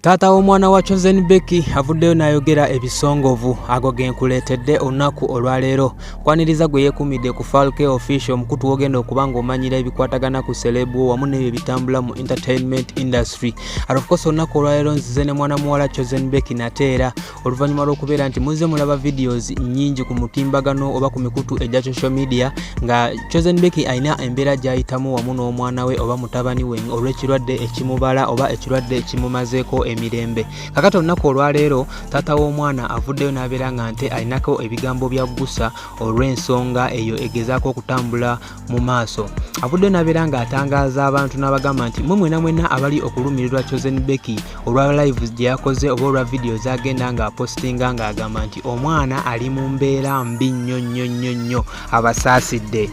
Taata w'omwana wa Chosen Becky avuddeyo n'ayogera ebisongovu ago genkuleetedde olunaku olwaleero kwaniriza gwe yeekuumidde ku Falke Official omukutu w'ogenda okuba ng'omanyira ebikwatagana ku selebu wamu n'ebyo ebitambula mu entertainment industry ati of course olunaku olwaleero nzize ne mwana muwala Chosen Becky nate era oluvannyuma lw'okubeera nti muzze mulaba videos nnyingi ku mutimbagano oba ku mikutu egya social media nga chosen beki alina embeera gy'ayitamu wamu n'omwana we oba mutabani we olw'ekirwadde ekimubala oba ekirwadde ekimumazeeko emirembe kakati olunaku olwaleero taata w'omwana avuddeyo n'abeera nga nte alinako ebigambo bya gusa olw'ensonga eyo egezaako okutambula mu maaso avudde nabeera nga atangaaza abantu n'abagamba nti mwe mwena mwena abali okulumirirwa chosen becky olwa live gye yakoze oba olwa vidiyo zagenda nga apostinga ng'agamba nti omwana ali mu mbeera mbi nnyo nnyo nnyo nnyo abasaasidde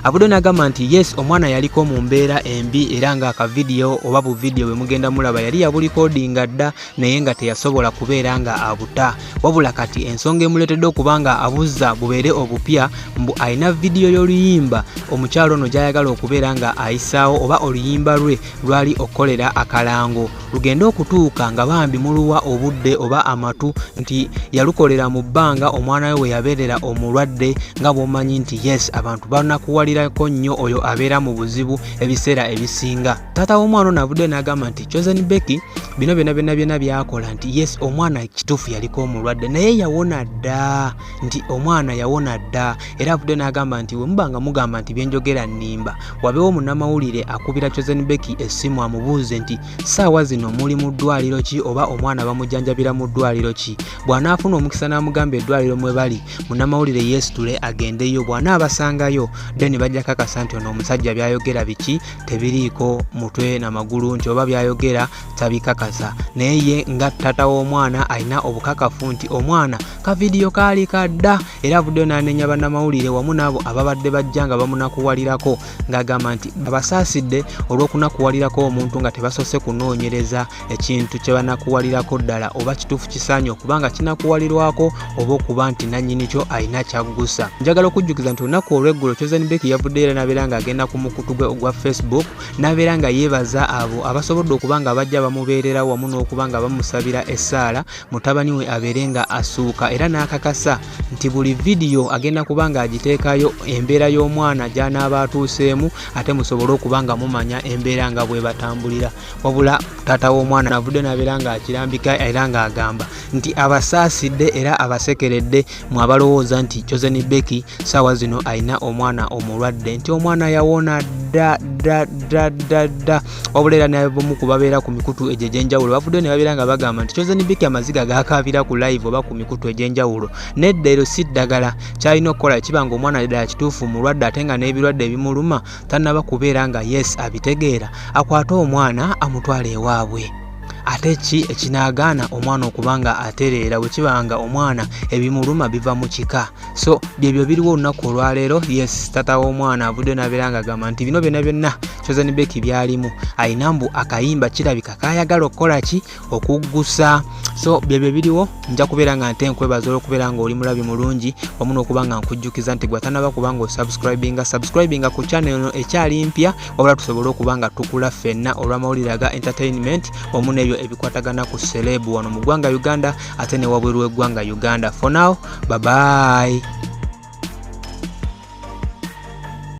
abudo nagamba nti yes omwana yaliko mu mbeera embi era nga akavidiyo oba buvidiyo bwe mugenda mulaba yali yabulikodinga dda naye nga teyasobola kubeera nga abuta wabula kati ensonga emuleetedde okuba nga abuzza bubeere obupya mbu alina vidiyo y'oluyimba omukyalo ono gy'ayagala okubeera nga ayisaawo oba oluyimba lwe lwali okukolera akalango lugende okutuuka nga bambi muluwa obudde oba amatu nti yalukolera mu bbanga omwana we we yabeerera omulwadde nga bw'omanyi nti yes abantu banakuwalirako nnyo oyo abeera mu buzibu ebiseera ebisinga taata w'omwana ono avuddeyo n'agamba nti chosen becky bino byona byona byona byakola nti yes omwana kituufu yaliko omulwadde naye yawona dda nti omwana yawona dda era avuddeyo n'agamba nti wemuba nga mugamba nti byenjogera nnimba wabeewo munamawulire akubira chosen becky essimu amubuuze nti saawa zino muli mu ddwaliro ki oba omwana bamujjanjabira mu ddwaliro ki bw'anaafuna omukisa n'amugamba eddwaliro mwe bali munamawulire yeesitule agendeyo bw'anaabasangayo then bajja kakasa nti ono omusajja byayogera biki tebiriiko mutwe na magulu nti oba byayogera tabikakasa naye ye nga tata w'omwana alina obukakafu nti omwana ka vidiyo kaali kadda era avuddeyo n'anenya bannamawulire wamu n'abo ababadde bajja nga bamunakuwalirako ng'agamba nti abasaasidde olw'okunakuwalirako omuntu nga tebasoose kunoonyereza ekintu kye banakuwalirako ddala oba kituufu kisaanye okuba nga kinakuwalirwako oba okuba nti nannyini kyo alina kyaggusa njagala okujjukiza nti olunaku olw'eggulo chosen bek yavuddeyo era n'abeera ng'agenda ku mukutu gwe ogwa facebook n'abeera nga yeebaza abo abasobodde okuba nga bajja bamubeerera wamu n'okuba nga bamusabira essaala mutabani we abeere nga asuuka era n'akakasa nti buli vidiyo agenda kuba ng'agiteekayo embeera y'omwana gy'anaaba atuuseemu ate musobole okuba nga mumanya embeera nga bwe batambulira wabula taata w'omwana avudde nabeera ng'akirambika era ng'agamba nti abasaasidde era abasekeredde mu abalowooza nti josen beki saawa zino alina omwana omulwadde nti omwana yawona ddaddaddaddadda wabula era nabomu ku babeera ku mikutu egyo egy'enjawulo bavudde ne babeera nga bagamba nti josen beki amaziga gakaabira ku live oba ku mikutu egy'enjawulo nedda ero si ddagala kyalina okukola kiba nga omwana ddala kituufu mulwadde ate nga n'ebirwadde ebimuluma tanaba kubeera nga yes abitegeera akwate omwana amutwala ewaabwe ate ki ekinaagaana omwana okuba nga atereera bwe kiba nga omwana ebimuluma biva mu kika so byebyo biriwo olunaku olwaleero yes tata w'omwana avudde nabeera nga agamba nti bino byonna byonna chosen beki byalimu alina mbu akayimba kirabika kayagala okukola ki okuggusa so byebyo biriwo nja kubeera nga nte nkwebaza olwokubeera nga oli mulabi mulungi wamu nokuba nga nkujjukiza nti gwatanaba kuba nga osubscribinga subscribinga ku channel eno ekyali mpya wabula tusobole okuba nga tukula ffenna olwamawulire aga entertainment wamu nebyo ebikwatagana ku selebu wano mu ggwanga uganda ate ne wabweru w'eggwanga uganda for now babayi